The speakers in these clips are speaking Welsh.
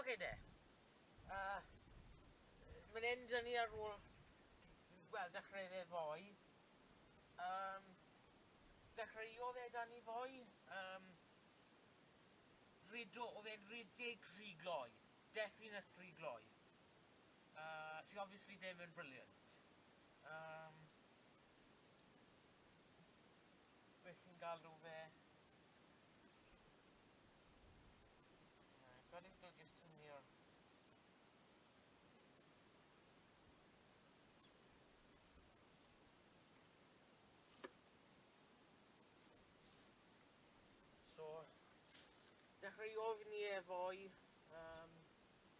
Oce de. Uh, Mae'n hyn dyn ni ar ôl, wel, dechrau fe fwy. Um, dechreuodd e dan ni fwy. Um, rido, oedd e'n ridig rhy gloi. Definite rhy gloi. Uh, sy obviously ddim yn brilliant. Um, Beth chi'n galw fe? Rhaid i'n golygus tynnu So, dechrau ofni efo'i um,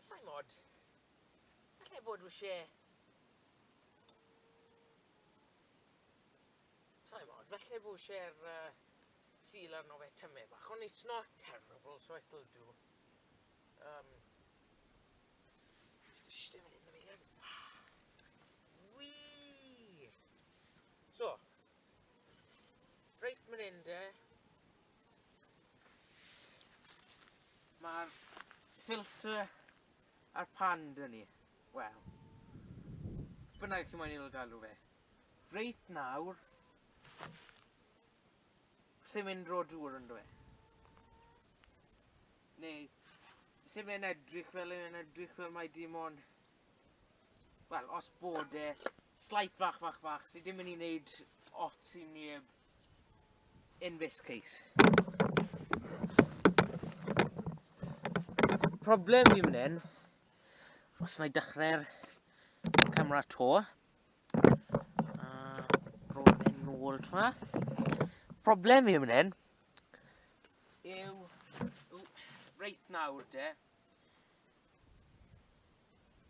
Allai mod. Allai fod wysie. Allai mod. Falle fo wsie'r uh, seal arno fe tyme bach. Ond it's not terrible, so it'll do. Um, Dim yn mynd yn mynd Wii! So, reit mynd hyn de. Mae'r filter a'r pan dyn ni. Wel. Bynnag chi moyn i'n galw fe. Reit nawr. Sy'n mynd dro dŵr yn dwi. Neu. Sy'n mynd edrych fel yn edrych fel mae dim ond. Wel, os bod e. Slight fach fach fach sydd dim yn ei wneud ot i neb. in this case. Problem fi mynd hyn, os na i dechrau'r camera to, a roedd e'n nôl tra. Problem fi mynd hyn, yw, yw reit nawr de,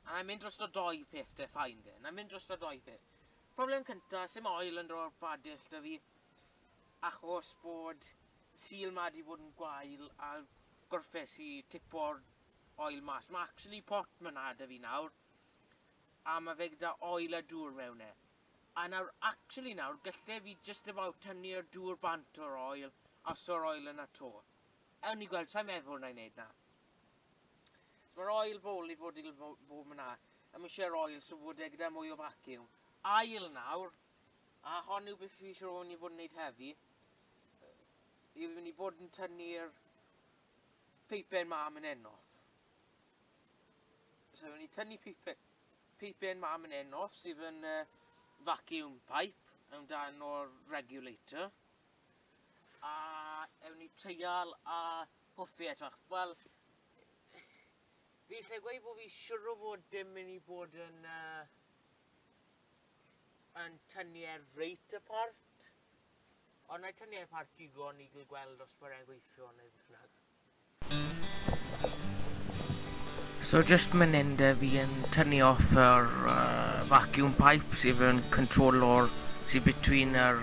a na i'n mynd dros o doi peth de, ffain de, na i'n mynd dros o doi peth. Problem cynta, sim oil yn dro'r badell da fi achos bod sul ma di bod yn gwael a gorffes i tipo'r oil mas. Ma actually pot ma na da fi nawr a ma fe gyda oil a dŵr mewn e. A nawr actually nawr galle fi just about tynnu'r dŵr bant o'r oil a so'r oil yna to. Ewn ni gweld, sa'n meddwl na i neud na. Mae'r ail bowl i fod il bob yna. Am eisiau'r ail so fod e gyda mwy o vacuum. Ail nawr. A hon yw beth fi eisiau o'n i fod yn neud heddi. I fynd i bod yn tynnu'r peipen ma yn ennoth. So fynd i tynnu peipen, peipen ma yn ennoth sydd yn uh, vacuum pipe amdano'r regulator. A ewn ni treial a Hoffi edrych. Wel, fi lle gweud bod fi siwr o fod dim yn i bod yn uh, yn tynnu e reit apart. Ond na'i tynnu e apart digon i gael gweld os mae'n gweithio neu beth bynnag. So just mynd hyn de fi yn tynnu off yr uh, vacuum pipe sydd yn control o'r sydd between yr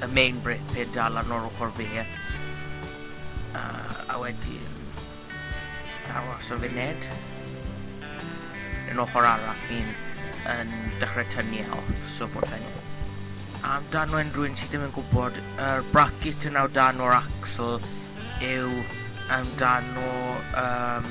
y main brake pedal ar nôl ochr fe a wedyn aros y funed yn ochr arall ni'n yn dechrau tynnu e off so bod fe'n am dan o unrhyw un sydd ddim yn gwybod yr bracket yn dan o'r axle yw am dan o um,